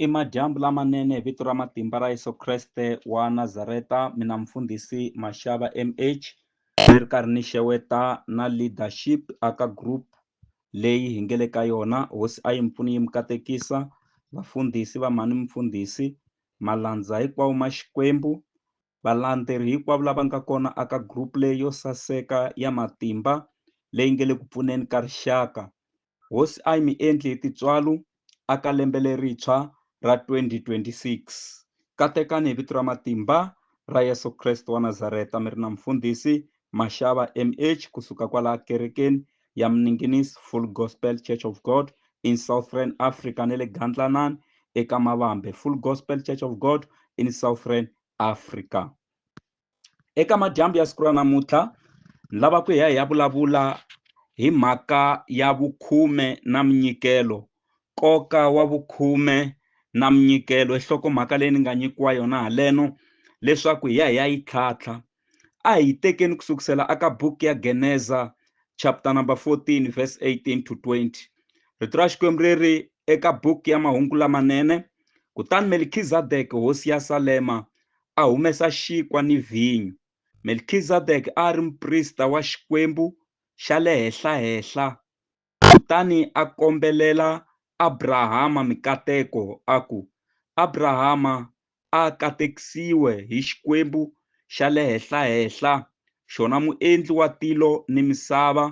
I madyambu lamanene hi vito ra matimba ra Yesu Kreste wa Nazareta mina mfundhisi Mashava MH ni ri karhi ni xeweta na leadership a ka group leyi hi nge le ka yona hosi a yi mi pfuni yi mi katekisa vafundhisi va mhani mfundhisi malandza hinkwawo ma Xikwembu Valandzeri hinkwavo lava nga kona aka group leyi yo saseka ya matimba leyi nge le ku pfuneni ka rixaka. Hosi ayi mi endli hi tintswalu aka lembe lerintshwa ra 2026. Katekani hi vito ra matimba ra Yesu Kreste wa Nazareta mi ri na Mufundhisi Mashava, MH, ku suka kwala Kerekeni ya Mninginis Full Gospel Church of God in Southern Africa ne le Gandlanan eka Mavambe Full Gospel Church of God in Southern Africa. Eka madyambu ya siku ra namuntlha ni lava ku hi ya hi ya vulavula hi mhaka ya vukhume na minyikelo, nkoka wa vukhume na minyikelo i nhlokomhaka leyi ni nga nyikiwa yona haleno leswaku hi ya hi ya yi tlhatlha A hi yi tekeni ku sukusela aka buku ya Geneza chapter number 14 verse 18 to 20. Rito ra Xikwembu ri ri eka buku ya Mahungu Lamanene, Kutani Melkizadeke hosi ya Salema a humesa xinkwa ni vhinyo. Melkizadeke a a ri muprista wa Xikwembu xa le Henhla-henhla Kutani a kombelela Abrahama mikateko, a ku, Abrahama a a katekisiwe hi Xikwembu xa le Henhla-henhla, xona Muendli wa tilo ni misava,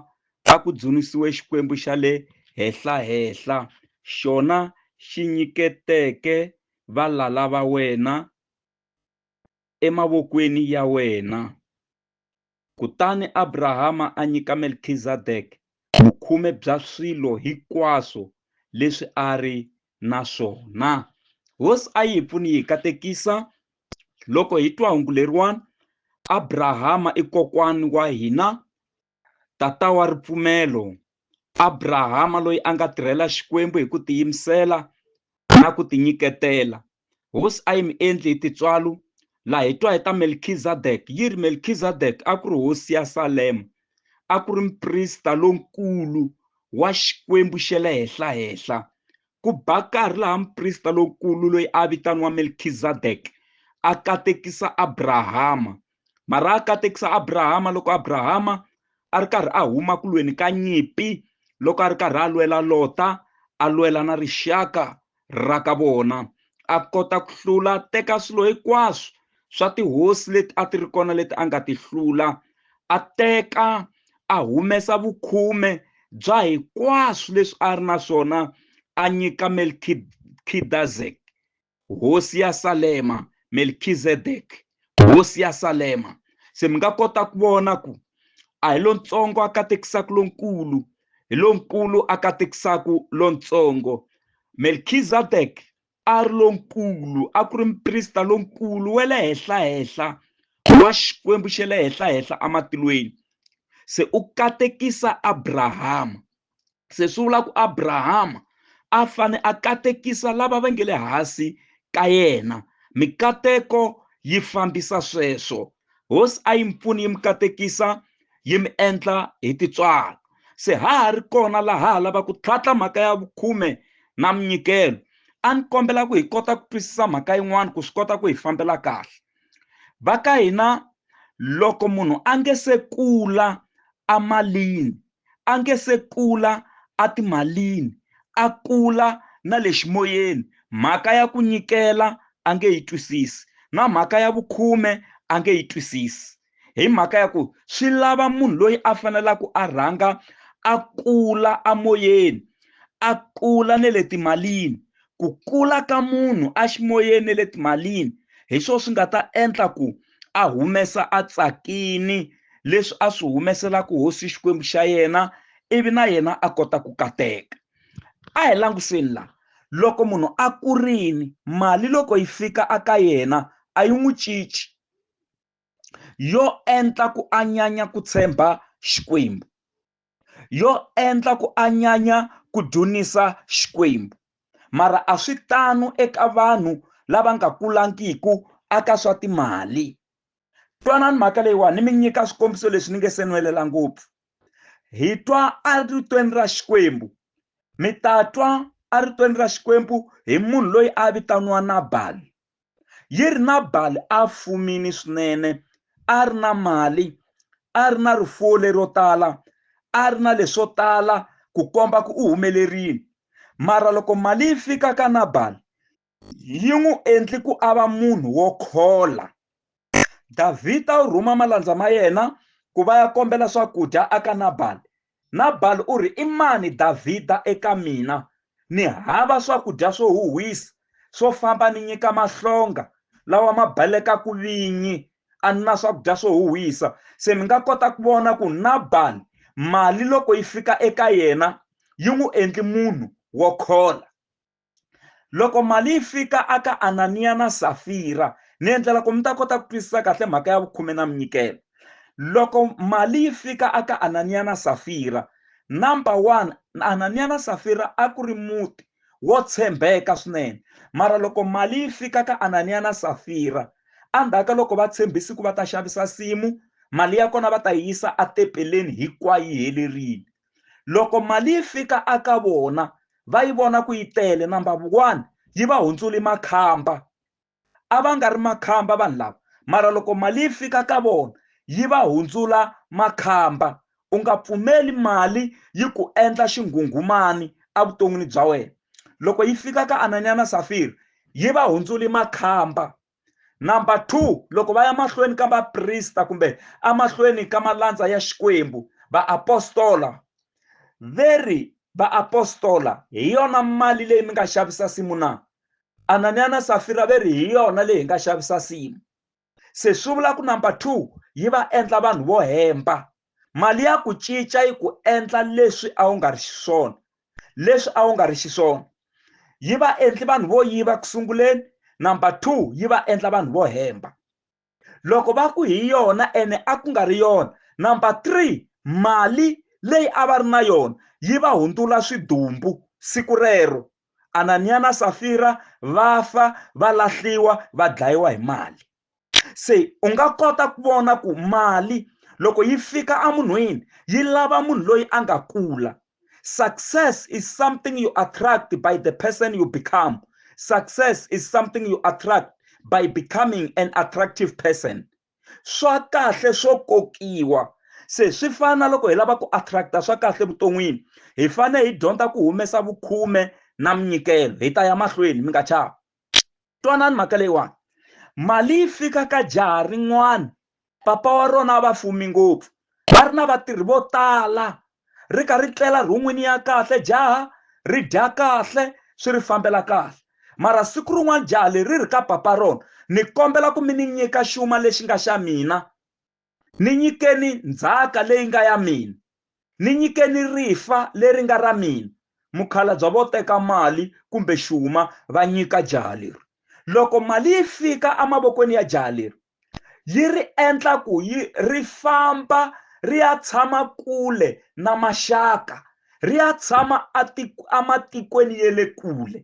a ku dzunisiwe Xikwembu xa le Henhla-henhla, xona xi nyiketeke valala va wena emavokweni ya wena. Kutani Abrahama a nyika Melkizadeke vukhume bya swilo hinkwaswo leswi a ri na swona. Hosi a yi hi pfuni yi hi katekisa loko hi twa hungu leriwani, Abrahama i kokwani wa hina, tata wa ripfumelo. Abrahama loyi a nga tirhela Xikwembu hi ku tiyimisela na ku tinyiketela, Hosi a yi mi endli hi tintswalo, laha hi twa hi ta Melkizadek yi ri, Melkizadek a ku ri hosi ya Salema, a ku ri muprista lonkulu wa Xikwembu xa le Henhla-henhla. Ku ba nkarhi laha muprista lonkulu loyi a vitaniwa Melkizadek a katekisa Abrahama mara a katekisa abrahama loko abrahama a ri karhi a huma ku lweni ka nyimpi loko a ri karhi a lwela lota a lwela na rixaka ra ka vona a kota ku hlula teka swilo hinkwaswo swa tihosi leti a ti ri kona leti a nga ti hlula a teka a humesa vukhume bya hinkwaswo leswi a ri na swona a nyika melkidazek Hosi ya Salema, Melkizedek, Hosi ya Salema. Se mi nga kota ku vona ku a hi lontsongo a katekisaka lonkulu, hi lonkulu a katekisaka lontsongo. Melkizedek a ri lonkulu, a ku ri muprista lonkulu wa le henhla henhla wa Xikwembu xa le henhla henhla ematilweni. Se u katekisa Abrahama, se swi vula ku abrahama a fane a katekisa lava va nge le hansi ka yena mikateko yi fambisa sweswo hosi a yi mi pfuni yi mi katekisa yi mi endla hi titswalo se ha ha ri kona laha ha lava ku tlhatla mhaka ya vukhume na minyikelo a ni kombela ku hi kota ku twisisa mhaka yin'wana ku swi kota ku hi fambela kahle va ka hina loko munhu a nge se kula amalini a nge se kula etimalini, a kula na le ximoyeni, mhaka ya ku nyikela a nge yi twisisi, na mhaka ya vukhume a nge yi twisisi, hi mhaka ya ku swi lava munhu loyi a fanelaka a rhanga a kula emoyeni, a kula na le timalini. Ku kula ka munhu eximoyeni na le timalini hi swona swi nga ta endla ku. a humesa a tsakini leswi a swi humeselaka hosi xikwembu xa yena ivi na yena a kota ku kateka a hi languseni la loko munhu a kurini mali loko yi fika aka yena a yi n'wi cinci yo endla ku a nyanya ku tshemba xikwembu yo endla ku anyanya ku dzunisa Xikwembu. Mara a swi tano eka vanhu lava nga kulangiku aka swa timali. Twanani mhaka leyiwani ni mi nyika swikombiso leswi ni nge se nwelela ngopfu. Hi twa eritweni ra Xikwembu mi ta twa eritweni ra Xikwembu hi munhu loyi a vitaniwa Nabali. Yernabali a a fumile swinene, a a ri na mali, a a ri na rifuwo lero tala, a a ri na leswo tala ku komba ku u humelerile. Mara loko mali yi fika ka Nabali, yi n'wi endle ku a va munhu wo khola. davhida u rhuma malandza ma yena ku va ya kombela swakudya aka nabali nabali u ri i mani davhida eka mina ni hava swakudya swo huhwisa swo famba ni nyika mahlonga lawa ma balekaku vinyi a ni na swakudya swo huhwisa se mi nga kota ku vona ku nabali mali loko yi fika eka yena yi n'wi endli munhu wo khola loko mali yi fika aka ananiya na safira ni endlela ku mi ta kota ku twisisa kahle mhaka ya vukhume na minyikelo loko mali yi fika aka ananiya na safira number one ananiya na safira a ku ri muti wo tshembeka swinene mara loko mali yi fika ka ananiya na safira endzhaku ka loko va tshembisi ku va ta xavisa simu mali ya kona va ta yi yisa etepeleni hinkwayo yi helerile loko mali yi fika aka vona va yi vona ku yi tele number one yi va hundzuli makhamba a va nga ri makhamba vanhu lava mara loko mali yi fika ka vona yi va hundzula makhamba u nga pfumeli mali yi ku endla xinghunghumani evuton'wini bya wena loko yi fika ka ananyana safiri yi va hundzuli makhamba number two loko va ya mahlweni ka vaprista kumbe amahlweni ka malandza ya xikwembu vaapostola veri vaapostola hi yona mali leyi mi nga xavisa simu na ananiya na safira ve ri hi yona leyi hi nga xavisa simu se swi vula ku number two yi va endla vanhu vo hemba mali ya ku cinca yi ku endla leswi a wu nga ri xiswona leswi a wu nga ri xiswona yi va endli vanhu vo yiva ku sunguleni number two yi va endla vanhu vo hemba loko va ku hi yona ene a ku nga ri yona number three mali leyi a va ri na yona yi va hundzula swidumbu siku rero ananiya na safira va fa va lahliwa va dlayiwa hi mali se u nga kota ku vona ku mali loko yi fika emunhwini yi lava munhu loyi a nga kula success is something you attract by the person you become success is something you attract by becoming an attractive person swa kahle swo kokiwa se swi fana na loko hi lava ku attracta swa kahle evuton'wini hi fanele hi dyondza ku humesa vukhume na minyikelo hi ta ya mahlweni mi nga chavi twanani mhaka leyiwani mali yi fika ka jaha rin'wana papa wa rona va fumi ngopfu va ri na vatirhi vo tala ri ka ri tlela rhun'wini ya kahle jaha ri dya kahle swi ri fambela kahle mara siku rin'wana jaha leri ri ka papa rona ni kombela ku mi ni nyika xuma lexi nga xa mina Ni nyikeni ndzhaka leyi nga ya mina. Ni nyikeni rifa leri nga ra mina. Mukhalabya vo teka mali kumbe xuma va nyika jaha leri. Loko mali yi fika emavokweni ya jaha leri, yi ri endla ku yi ri famba ri ya tshama kule na maxaka, ri ya tshama ematikweni ya le kule.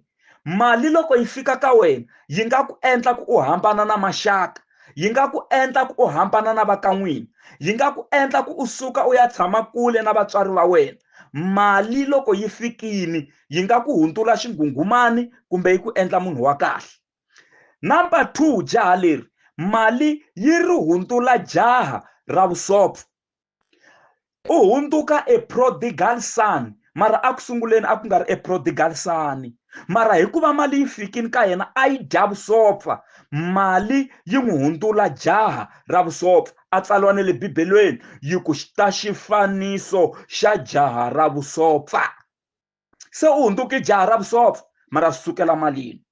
mali loko yi fika ka wena yi nga ku endla ku u hambana na maxaka yi nga ku endla ku u hambana na vakan'wini yi nga ku endla ku u suka u ya tshama kule na vatswari va wena mali loko yi fikini yi nga ku hundzula xinghunghumani kumbe yi ku endla munhu wa kahle number two jaha leri mali yi ri hundzula jaha ra vusopfa u hundzuka a prodigal son mara a ku sunguleni a ku nga ri a prodigal son mara hikuva mali yi fikini ka yena a yi dya vusopfa mali yi n'wi hundzula jaha ra vusopfa a tsaliwa ne le bibelweni yi ku ta xifaniso xa jaha ra vusopfa se u hundzuke jaha ra vusopfa mara swi sukela malini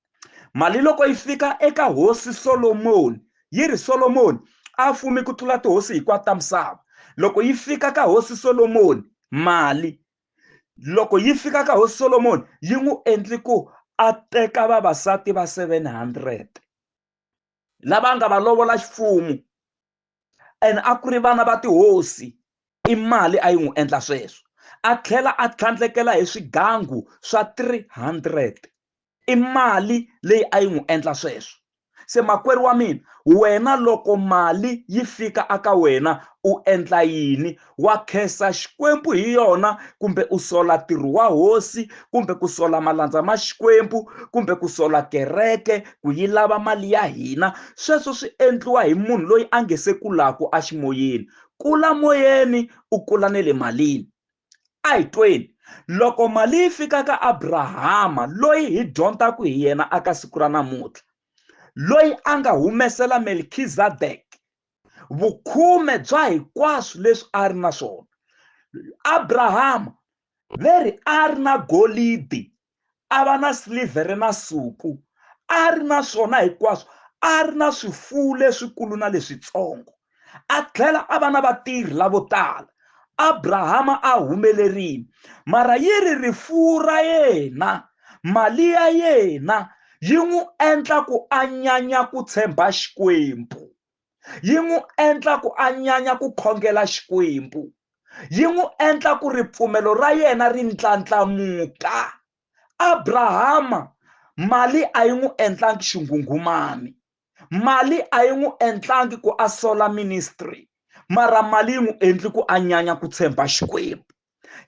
mali loko yi fika eka hosi solomoni yi ri solomoni a fumi ku tlula tihosi hinkwato ta misava loko yi fika ka hosi solomoni mali loko yi fika ka hosi solomoni yi n'wi endli ku a teka vavasati va 700 lava nga va lovola xifumu and a ku ri vana va tihosi i mali a yi n'wi endla sweswo a tlhela a tlhandlekela hi swigangu swa 300 i mali leyi a yi n'wi endla sweswo se makwerhu wa mina wena loko mali yi fika aka wena u endla yini wa khensa xikwembu hi yona kumbe u sola ntirho wa hosi kumbe ku sola malandza ma xikwembu kumbe ku sola kereke ku yi lava mali ya hina sweswo swi endliwa hi munhu loyi a nge se kulaku aximoyeni kula moyeni u kula ne le malini a hi tweni loko mali yi fika ka abrahama loyi hi dyondzaku hi yena aka siku ra namuntlha loyi a nga humesela melkizadek vukhume bya hinkwaswo leswi a ri na swona abrahama ve ri a ri na golidi a va na silivhere na suku a ri na swona hinkwaswo a ri na swifuwo leswikulu na leswitsongo a tlhela a va na vatirhi lavo tala abrahama a humelerile mara yi ri rifuwo ra yena mali ya yena yi n'wi endla ku a nyanya ku tshemba xikwembu yi n'wi endla ku a nyanya ku khongela xikwembu yi n'wi endla ku ripfumelo ra yena ri ndlandlamuka abrahama mali a yi n'wi endlangi xinghunghumani mali a yi n'wi endlangi ku a sola ministry mara mali yi n'wi endli ku a nyanya ku tshemba xikwembu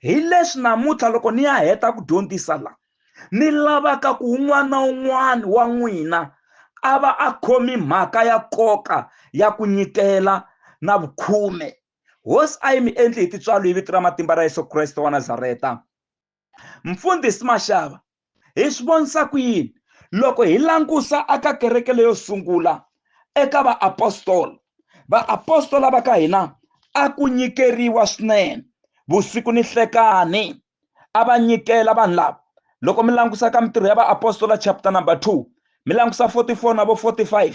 hi leswi namuntlha loko ni ya heta ku dyondzisa la ni lavaka ku un'wana na un'wana wa n'wina a va a khomi mhaka ya nkoka ya ku nyikela na vukhume hosi a yi mi endli hi tintswalo hi vito ra matimba ra yesu kreste wa nazareta mfundhisi maxava hi swi vonisa ku yini loko hi langusa aka kereke leyo sungula eka vaapostola vaapostola va ka hina a ku nyikeriwa swinene vusiku ni hlekani a va nyikela vanhu lava loko mi langusa ka mintirho ya vaapostola chapter number 2 mi langusa 44 na vo 45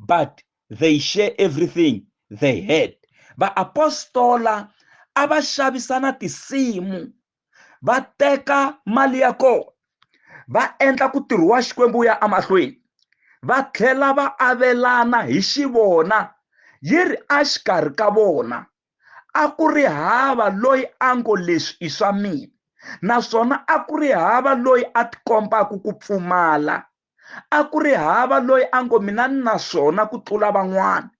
but they share everything they had vaapostola a va xavisana tinsimu va teka mali ya kona va endla ku tirho wa xikwembu wu ya emahlweni va tlhela va avelana hi xivona yi ri exikarhi ka vona a ku ri hava loyi a ngo leswi i swa mina naswona a ku ri hava loyi a tikombaka ku pfumala a ku ri hava loyi a ngo mina ni na swona ku tlula van'wana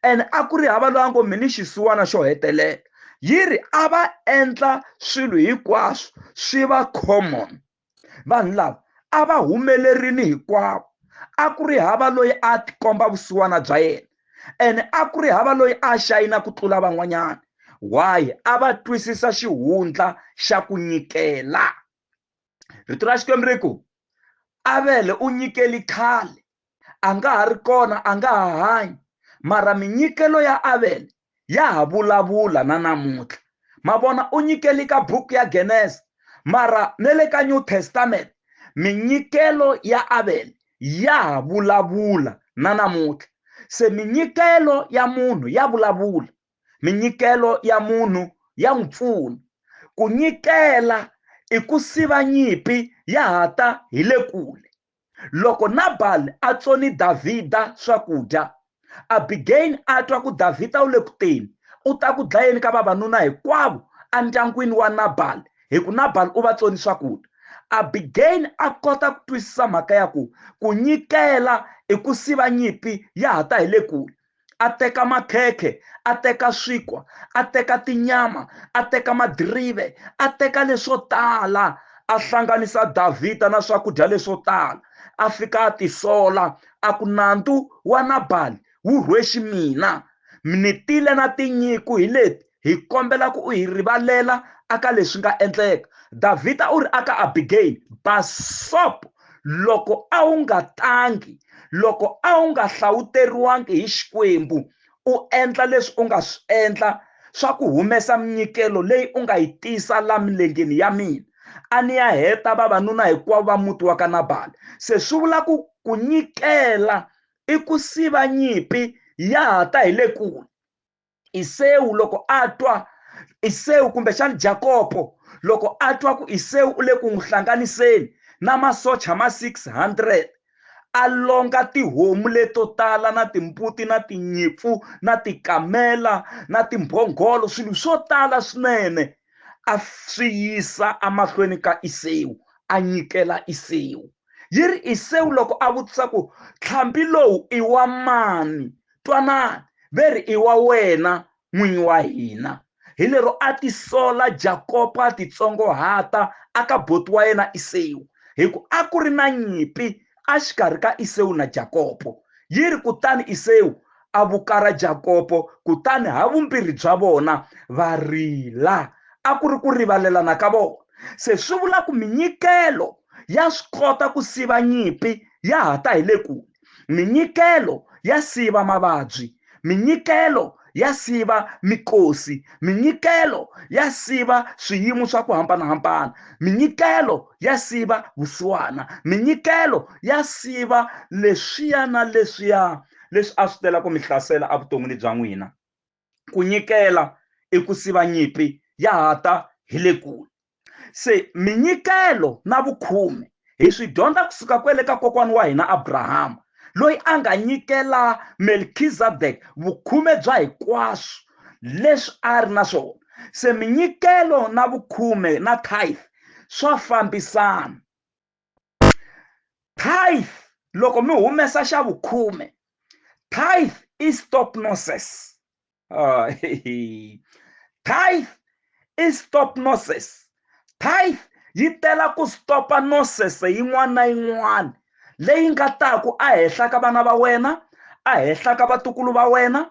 and a ku ri hava loyi a ngo mi ni xisiwana xo hetelela yi ri a va endla swilo hinkwaswo swi va common vanhu lava a va humelerini hinkwavo a ku ri hava loyi a tikomba vusiwana bya yena and a ku ri hava loyi a xayina ku tlula van'wanyana why a va twisisa xihundla xa ku nyikela rito ra xikwembu ri ku avele u nyikeli khale a nga ha ri kona a nga ha hanyi mara minyikelo ya avele ya ha vulavula na namuntlha ma vona u nyikeli ka buku ya genesa mara ne le ka new testament minyikelo ya avele ya ha vulavula na namuntlha se minyikelo ya munhu ya vulavula minyikelo ya munhu ya n'wi pfuna ku nyikela i ku siva nyimpi ya ha ta hi le kule loko nabali a tsoni davhida swakudya abigeyini a twa ku davhida u le ku teni u ta ku dlayeni ka vavanuna hinkwavo endyangwini wa nabali hi ku nabali u va tsoni swakudya abigeyini a kota ku twisisa mhaka ya ku ku nyikela i ku siva nyimpi ya ha ta hi le kule a teka makhekhe a teka swikwa a teka tinyama a teka madirive a teka leswo tala a hlanganisa davhida na swakudya leswo tala a fika a tisola a ku nandzu wa nabali wu rhwexi mina ni tile na tinyiku hi leti hi kombela ku u hi rivalela aka leswi nga endleka davhida u ri aka abigayili basopo loko a wu nga tangi loko a wu nga hlawuteriwangi hi xikwembu u endla leswi u nga swi endla swa ku humesa minyikelo leyi u nga yi tisa la milengeni ya mina a ni ya heta vavanuna hinkwavo va muti wa ka nabali se swi vula ku ku nyikela i ku siva nyimpi ya ha ta hi le kule isewu loko a twa isewu kumbexani jakopo loko a twa ku isewu u le ku n'wi hlanganiseni na masocha ma 600 a longa tihomu leto tala na timbuti na tinyimpfu na tikamela na timbhongolo swilo swo tala swinene a swi yisa emahlweni ka isewu a nyikela isewu yi ri isewu loko a vutisa ku tlhambi lowu i wa mani twanani ve ri i wa wena n'winyi wa hina hi lero a tisola jakopa titsongohata a ka boti wa yena isewu hi ku a ku ri na nyimpi axikarhi ka isewu na jakopo yi ri kutani isewu a vukara jakopo kutani ha vumbirhi bya vona va rila a ku ri ku rivalelana ka vona se swi vula ku minyikelo ya swi kota ku siva nyimpi ya ha ta hi le kule minyikelo ya siva mavabyi minyikelo ya siva mikosi minyikelo ya siva swiyimo swa ku hambanahambana minyikelo ya siva vusiwana minyikelo ya siva leswiya na leswiya leswi a swi tela ku mi hlasela evuton'wini bya n'wina ku nyikela i ku siva nyimpi ya ha ta hi le kule se minyikelo na vukhume hi swi dyondza kusuka kwele ka kokwana wa hina abrahama loyi a nga nyikela melkizadek vukhume bya hikwaswo leswi a ri na swona se minyikelo na vukhume na tithe swa fambisana tithe loko mi humesa xa vukhume tithe i stop noses uh, tithe i stop noses tithe yi tela ku stopa noses yin'wana na yin'wana leyi nga taku ehenhla ka vana va wena ehenhla ka vatukulu va wena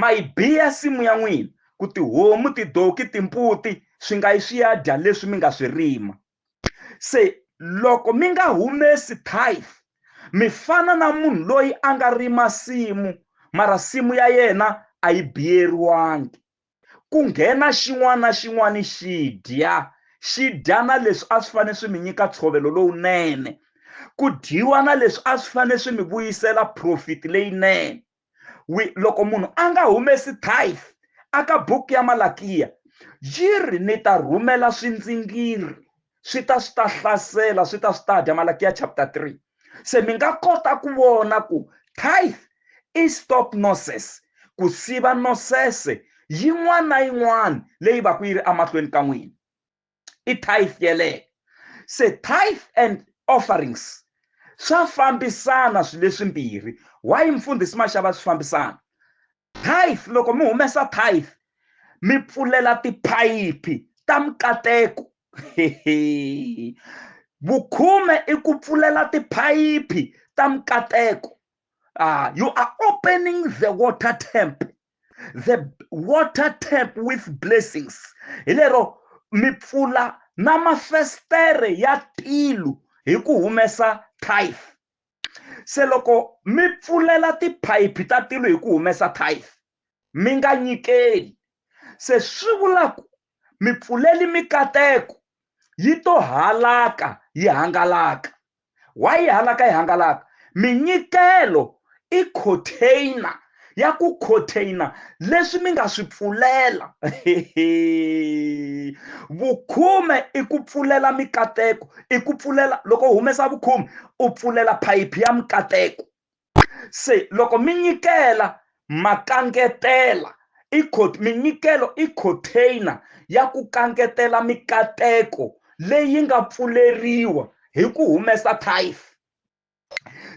Ma yi biya nsimu ya n'wina, ku tihomu, tidonki, timbuti swi nga yi swi ya dya leswi mi nga swi rima. Se loko mi nga humesi tithe, mi fana na munhu loyi a nga rima nsimu, mara nsimu ya yena a yi biyeriwangi. Ku nghena xin'wana na xin'wana xi dya, xi dya na leswi a swi fanele swi mi nyika ntshovelo lowunene, ku dyiwa na leswi a swi fanele swi mi vuyisela profit leyinene. we loko munhu a nga humesi tithe aka buku ya malakiya yi ri ni ta rhumela swindzingiri swi ta swi ta hlasela swi ta swi ta dya malakiya chapter 3 se mi nga kota ku vona ku tithe i stop noses ku siva nosese yin'wana na yin'wana leyi va ku yi ri emahlweni ka n'wina i-tithe yeleyo se tithe and offerings swa fambisana swilo leswimbirhi why mfundhisi maxava swi fambisana tithe loko mi humesa tithe mi pfulela tiphayiphi ta mikateko vukhume i ku pfulela tiphayiphi ta mikateko ah you are opening the water temp the water tap with blessings hi lero mi pfula na mafestere ya tilu hi ku humesa tithe se loko mi pfulela tiphayiphi ta tilu hi ku humesa tithe mi nga nyikeli se swi vulaku mipfuleli mikateko yi to halaka yi hangalaka wa yi halaka yi hangalaka minyikelo i container ya ku container leswi mi nga swi pfulela vukhume i ku pfulela mikateko i ku pfulela loko u humesa vukhume u pfulela phayiphi ya mikateko se loko mi nyikela ma kangetela i minyikelo i container ya ku kangetela mikateko leyi nga pfuleriwa hi ku humesa tithe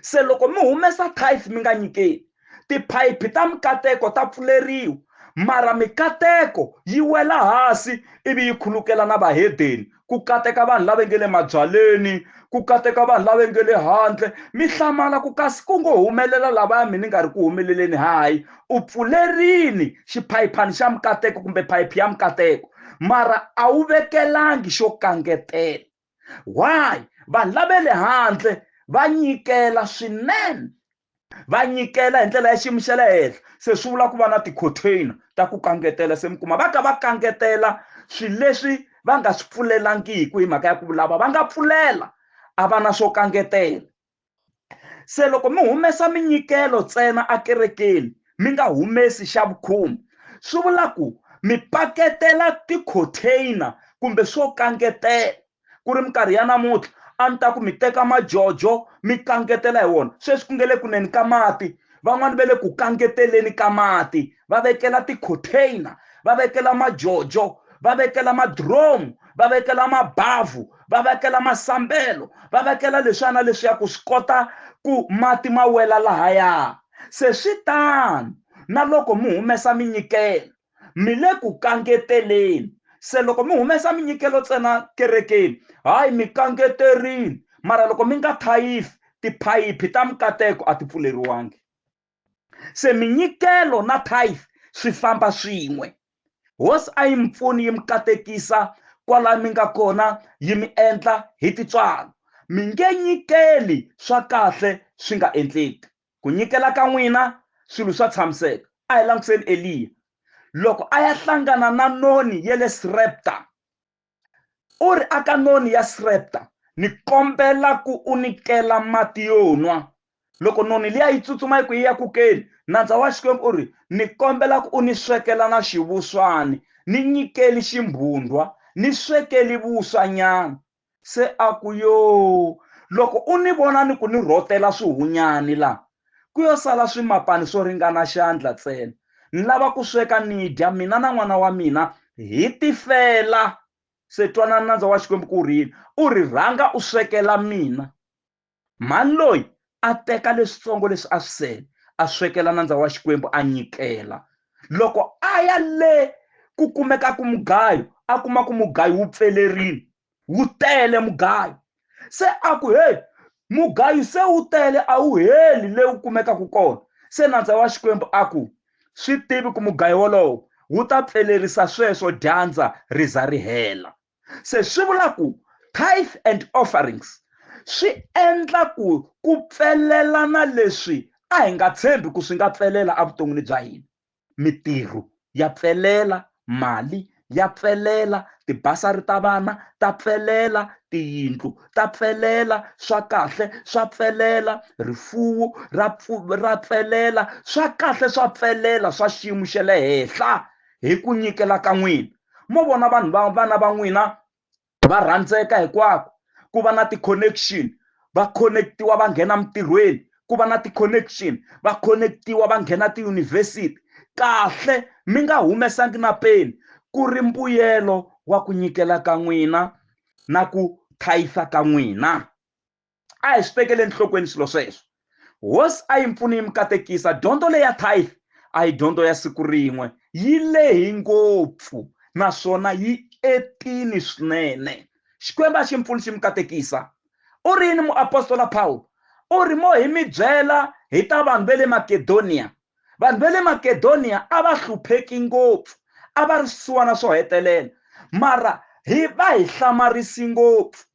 se loko mi humesa tithe mi nga nyikeli tiphayiphi ta mikateko ta pfuleriwa mara mikateko yi wela hansi ivi yi khulukela na vahedeni ku kateka vanhu lava nge le mabyaleni ku kateka vanhu lava nge le handle mi hlamala ku kasi ku ngo humelela lavaya mi ni nga ri ku humeleleni hayi u pfulerini xiphayiphani xa mikateko kumbe phayiphi ya mikateko mara a wu vekelangi xo kangetela why vanhu lava le handle va nyikela swinene va nyikela hi ndlela ya xiyimo xa le henhla se swi vula ku va na ti-container ta ku kangetela se mi kuma va ka va kangetela swilo leswi va nga swi pfulelangiki hi mhaka ya ku lava va nga pfulela a va na swo kangetela se loko mi humesa minyikelo ntsena ekerekeni mi nga humesi xa vukhumbi swi vula ku mi paketela ti-container kumbe swo kangetela ku ri minkarhi ya namuntlha a ni ta ku mi teka majojo mi kangetela hi wona sweswi ku nge le kuneni ka mati van'wani va le ku kangeteleni ka mati va vekela ti-container va vekela majojo va vekela madromu va vekela mabavhu va vekela masambelo va vekela leswana leswi ya ku swi kota ku mati ma wela lahaya se swi tano na loko mi humesa minyikelo Mi le ku kangeteleni. Se loko mi humesa minyikelo tsena kerekeni, hayi mi kangeterini, mara loko mi nga thayifi, tiphayiphi ta mikateko a ti pfuleriwangi. Se minyikelo na thayifi swi famba swin'we. Hosi a yi mi pfuni yi mi katekisa kwala mi nga kona, yi mi endla hi tintswalo. Mi nge nyikeli swa kahle swi nga endleki. Ku nyikela ka n'wina swilo swa tshamiseka. A hi langutiseni Eliya. Loko a ya hlangana na noni ya le Srepta, u ri aka noni ya Srepta, Ni kombela ku u ni kela mati yo nwa. Loko noni liya yi tsutsuma yi ku yi ya ku keni, nandza wa Xikwembu u ri, Ni kombela ku u ni swekela na xivuswani. Ni nyikeli ximbhundhwa. Ni swekeli vuswa nyana. Se a ku, Yoo, loko u ni vona ni ku ni rhotela swihunyani laha, ku yo sala swimapani swo ringana xandla tsena. Ni lava ku sweka ni dya, mina na n'wana wa mina, hi tifela. Se twanani nandza wa Xikwembu ku ri yini, U ri, Rhanga u swekela mina. Mhani loyi a teka leswitsongo leswi a swi sele, a swekela nandza wa Xikwembu a nyikela. Loko a ya le ku kumekaka mugayo, a kuma ku mugayo wu pfelerile, wu tele mugayo. Se a ku, Heyi, mugayo se wu tele, a wu heli le wu kumekaka kona. Se nandza wa Xikwembu a ku, Swi tivi ku mugayo wolowo wu ta pfelerisa sweswo dyandza ri za ri hela. se swi vula ku tithe and offerings swi endla ku ku pfelelana leswi a hi nga tshembi ku swi nga pfelela evuton'wini bya hina mitirho ya pfelela mali ya pfelela tibasari ta vana ta pfelela tiyindlu ta pfelela swa kahle swa pfelela rifuwo ra ra pfelela swa kahle swa pfelela swa xiyimo xa le henhla hi ku nyikela ka n'wina mo vona vanhu va vana va n'wina va rhandzeka hikwako ku va na ti-connection va connectiwa va nghena mintirhweni ku va na ti-connection va connectiwa va nghena tiyunivhesiti kahle mi nga humesangi na peni ku ri mbuyelo wa ku nyikela ka n'wina na ku thayisa ka n'wina a hi swi tekeli enhlokweni swilo sweswo hosi a yi mpfuni yi mi katekisa dyondzo leyi ya tithe a hi dyondzo ya siku rin'we yi lehi ngopfu naswona yi etini swinene xikwembu a xi mpfuni xi mi katekisa u ri yini muapostola pawulo u ri mo hi mi byela hi ta vanhu ve le makedoniya vanhu ve le makedoniya a va hlupheki ngopfu a va ri swisiwana swo hetelela mara hi va hi hlamarisi ngopfu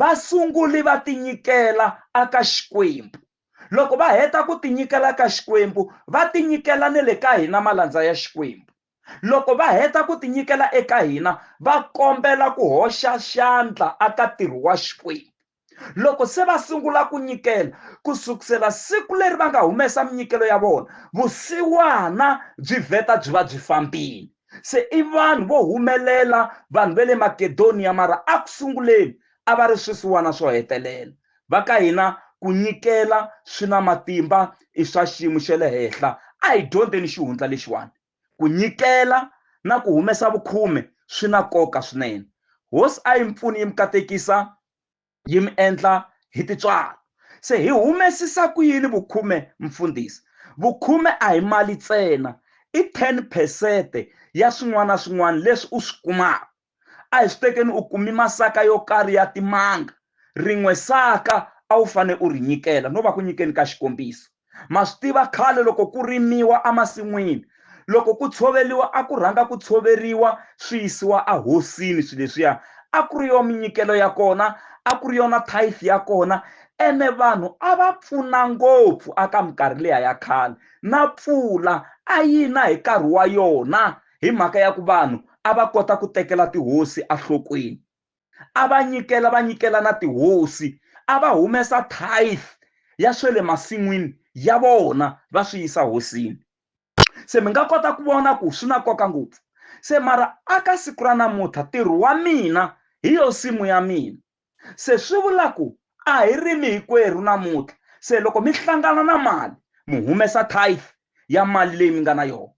Vasunguli va tinyikela aka Xikwembu. Loko va heta ku tinyikela ka Xikwembu, va tinyikela ni le ka hina malandza ya Xikwembu. Loko va heta ku tinyikela eka hina, va kombela ku hoxa xandla aka ntirho wa Xikwembu. Loko se va sungula ku nyikela, ku sukusela siku leri va nga humesa minyikelo ya vona, vusiwana byi vheta byi va byi fambile. se i vanhu vo humelela vanhu va le makedoniya mara a ku sunguleni a va ri swisiwana swo hetelela va ka hina ku nyikela swi na matimba i swa xiyimo xa le henhla a hi dyondzeni xihundla lexiwani ku nyikela na ku humesa vukhume swi na nkoka swinene hosi a yi mi pfuni yi mi katekisa yi mi endla hi titswalo se hi humesisa ku yini vukhume mfundhisi vukhume a hi mali ntsena i 10 phesente ya swin'wana na swin'wana leswi u swi kumaka a hi swi tekeni u kumi masaka yo karhi ya timanga rin'we saka a wu fanele u ri nyikela no va ku nyikeni ka xikombiso ma swi tiva khale loko ku rimiwa emasin'wini loko ku tshoveriwa a ku rhanga ku tshoveriwa swi yisiwa ahosini swilo leswiya a ku ri yo minyikelo ya kona a ku ri yona tithe ya kona ene vanhu a va pfuna ngopfu aka minkarhi leya ya khale na pfula a yi na hi nkarhi wa yona hi mhaka ya ku vanhu a va kota ku tekela tihosi enhlokweni a va nyikela va nyikela na tihosi a va humesa tithe ya swe le masin'wini ya vona va swi yisa hosini se mi nga kota ku vona ku swi na nkoka ngopfu se mara aka siku ra namuntlha ntirho wa mina hi yo simu ya mina se swi vula ku a hi rimi hikwerhu namuntlha se loko mi hlangana na mali mi humesa tithe ya mali leyi mi nga na yona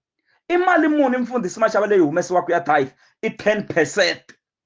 i mali muni mfundhisi maxava leyi humesiwaka ya tithe i ten percent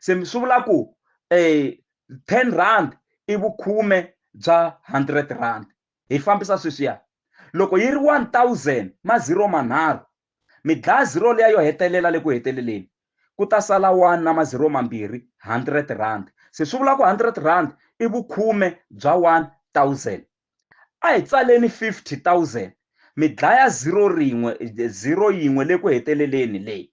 se swi vula ku um ten rand i vukhume bya hundred rand hi fambisa sweswiya loko yi ri one thousand ma zero manharhu mi dlaya zero leya yo hetelela le ku heteleleni ku ta sala one na mazero mambirhi hundred rand se swi vula ku hundred rand i vukhume bya one thousand a hi tsaleni fifty thousand mi dlaya zero rin'we zero yin'we le ku heteleleni leyi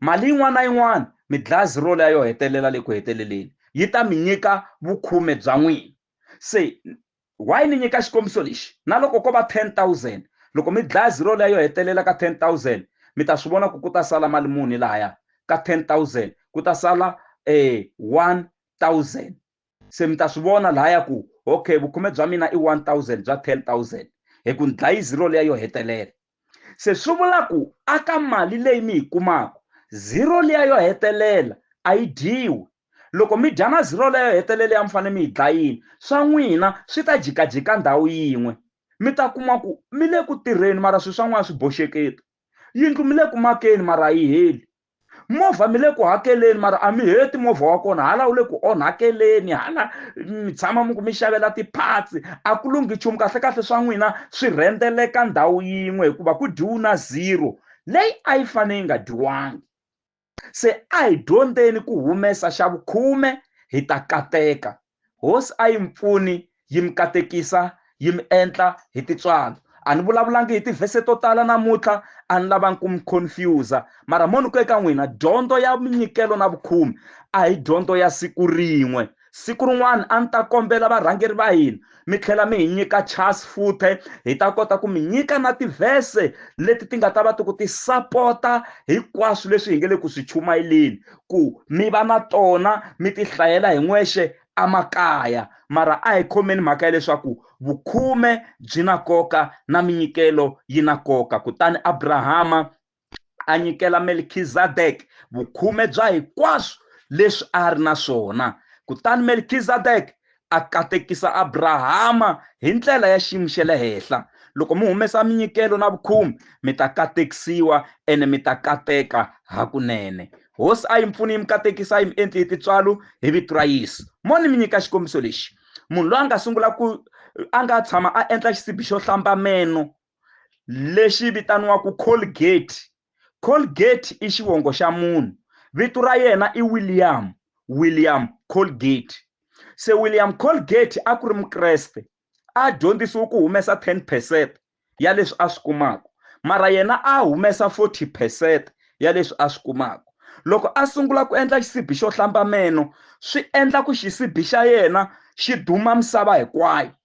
Mali yin'wana na yin'wana, midlazi role ya yo hetelela le ku heteleleni, yi ta mi nyika vukhume bya n'wina. Se, why ni nyika xikombiso lexi? Na loko ko va 10,000, loko midlazi role ya yo hetelela ka 10,000, mi ta swi vona ku ku ta sala mali muni lahaya ka 10,000? Ku ta sala, ee, 1,000. se mi ta swi vona lahaya ku okay vukhume bya mina i 1000 bya 10000 hi ku ni dlayi zero leya yo hetelela se swi vula ku aka mali leyi mi yi kumaka zero leya yo hetelela a yi dyiwi loko mi dya na zero leyo hetelela ya mi fanele mi yi dlayini swa n'wina swi ta jikajika ndhawu yin'we mi ta kuma ku mi le ku tirheni mara swilo swa n'wina swi boxeketa yindlu mi le ku makeni mara a yi heli movha mi le ku hakeleni mara a mi heti movha wa kona hala wu le ku onhakeleni hala mi tshama mi ku mi xavela ti-parts a ku lunghi nchumu kahlekahle swa n'wina swi rhendzeleka ndhawu yin'we hikuva ku dyiwu na zero leyi a yi fane yi nga dyiwangi se a hi dyondzeni ku humesa xa vukhume hi ta kateka Hosi a yi mi pfuni yi mi katekisa yi mi endla hi titswalo a ni vulavulangi hi tivhese to tala namuntlha a ni lavangi ku mi confuse mara mo ni ku eka n'wina dyondzo ya minyikelo na vukhume a hi dyondzo ya siku rin'we siku rin'wana a ni ta kombela varhangeri va hina mi tlhela mi hi nyika chance futhe hi ta kota ku mi nyika na tivhese leti ti nga ta va ti ku ti sapota hinkwaswo leswi hi nge le ku swi chumayeleni ku mi va na tona mi ti hlayela hi n'wexe emakaya mara a hi khomeni mhaka ya leswaku vukhume byi na nkoka na minyikelo yi na nkoka kutani abrahama a nyikela melkizadeke vukhume bya hinkwaswo leswi a ri na swona kutani melkizadeke a katekisa Abrahama hi ndlela ya xiyimo xa le henhla loko mi humesa minyikelo na vukhumi mi ta katekisiwa ene mi ta kateka hakunene hosi a yi mpfuni yi mi katekisa yi mi endli hi titswalo hi vito ra yesu moni mi nyika xikombiso lexi munhu loyi a nga sungula ku a nga tshama a endla xisibi xo hlamba meno lexi vitaniwaka Colgate Colgate i xivongo xa munhu vito ra yena i William William Colgate se William Colgate a ku ri mukreste a dyondzisiwe ku humesa 10 percent ya leswi a swi kumaka mara yena a humesa 40 percent ya leswi a swi kumaka loko a sungula ku endla xisibi xo hlamba meno swi endla ku xisibi xa yena xi duma misava hinkwayo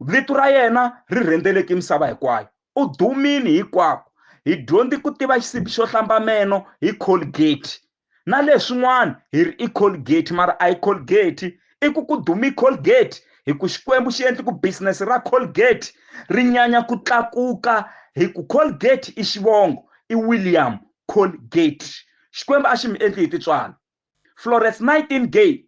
Vito ra yena ri rhendzeleke misava hinkwayo. U dumile hikwako. Hi dyondze ku tiva xisibi xo hlamba meno hi Colgate. Na leswin'wana hi ri i Colgate mara a hi Colgate. I ku ku dume Colgate hi ku Xikwembu xi endle ku business ra Colgate ri nyanya ku tlakuka hi ku Colgate i xivongo, i William Colgate. Xikwembu a xi mi endli hi tintswalo. Florence Nightingale,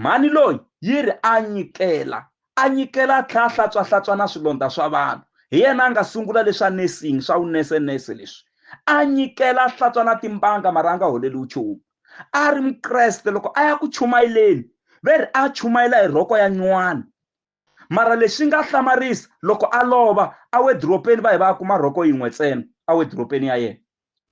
mhani loyi yi ri a nyikela a nyikela a tlhela a hlantswahlatswana swilondza swa vanhu. Hi yena a nga sungula leswa nursing, swa vunese-nese leswi. A nyikela a hlantswa na timbanga mara a nga holeli nchumu. A ri Mukreste loko a ya ku chumayeleni ve ri a chumayela hi rhoko ya nywana. mara lexi nga hlamarisa loko a lova awediropeni va hi va ya kuma rhoko yin'we ntsena awediropeni ya yena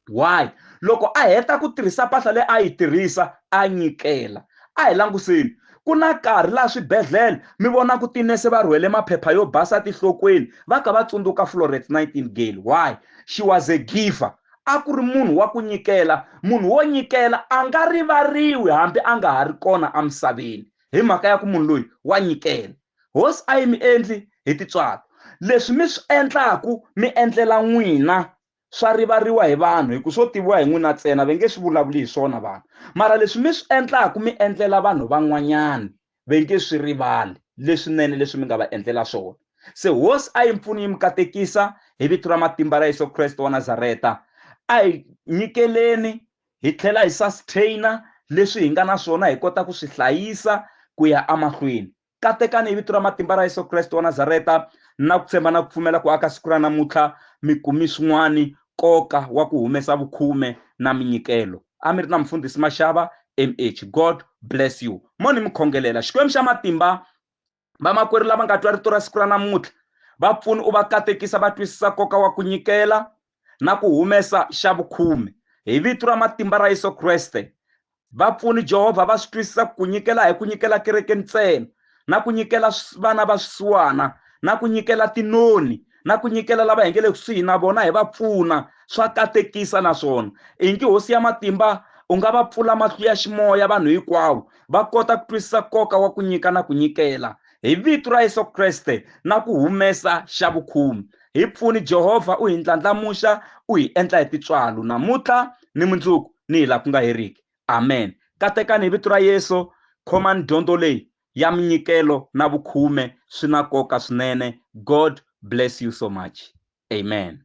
why loko a heta ku tirhisa mpahla leyi a yi tirhisa a nyikela a hi languseni ku na nkarhi laha swibedhlele mi vona ku tinese va rhwele maphepha yo basa tihlokweni va ka va tsundzuka florence nightingale why she was a giver a ku ri munhu wa ku nyikela munhu wo nyikela a nga rivariwi hambi a nga ha ri kona emisaveni hi mhaka ya ku munhu loyi wa nyikela. Hosi a yi mi endli hi tintswalo. Leswi mi swi endlaku mi endlela n'wina swa rivariwa hi vanhu hi ku swo tiviwa hi n'wina ntsena, ve nge swi vulavuli hi swona vanhu. Mara leswi mi swi endlaku mi endlela vanhu van'wanyani, ve nge swi rivali leswinene leswi mi nga va endlela swona. Se Hosi a yi mi pfuni yi mi katekisa hi vito ra matimba ra Yesu Kreste wa Nazareta, a hi nyikeleni Hi tlhela hi sustain-a leswi hi nga na swona hi kota ku swi hlayisa ku ya emahlweni. Katekani hi vito ra matimba ra Yesu Kreste wa Nazareta, ni na ku tshemba na ku pfumela ku aka siku ra namuntlha mi kume swin'wana nkoka wa ku humesa vukhume na minyikelo. A mi ri na Mufundhisi Mashava, MH. God bless you. Mo ni mi khongelela. Xikwembu xa matimba vamakwerhu lava nga twa rito ra siku ra namuntlha va pfuni u va katekisa va twisisa nkoka wa ku nyikela na ku humesa xa vukhume hi vito ra matimba ra yesu kreste vapfuni jehovha va swi twisisa ku nyikela hi ku nyikela kereke ntsena na ku nyikela vana va swisiwana na ku nyikela tinoni na ku nyikela lava hi nge le kusuhi na vona hi va pfuna swa katekisa naswona i ngi hosi ya matimba u nga va pfula mahlu ya ximoya vanhu hinkwavo va kota ku twisisa nkoka wa ku nyika na ku nyikela hi vito ra yesu kreste na ku humesa xa vukhumi hi pfuni jehovha u hi ndlandlamuxa u hi endla hi titswalo namuntlha ni mundzuku ni hi laha ku nga heriki amen katekani hi vito ra yesu khomani dyondzo leyi ya minyikelo na vukhume swi na nkoka swinene God bless you so much amen.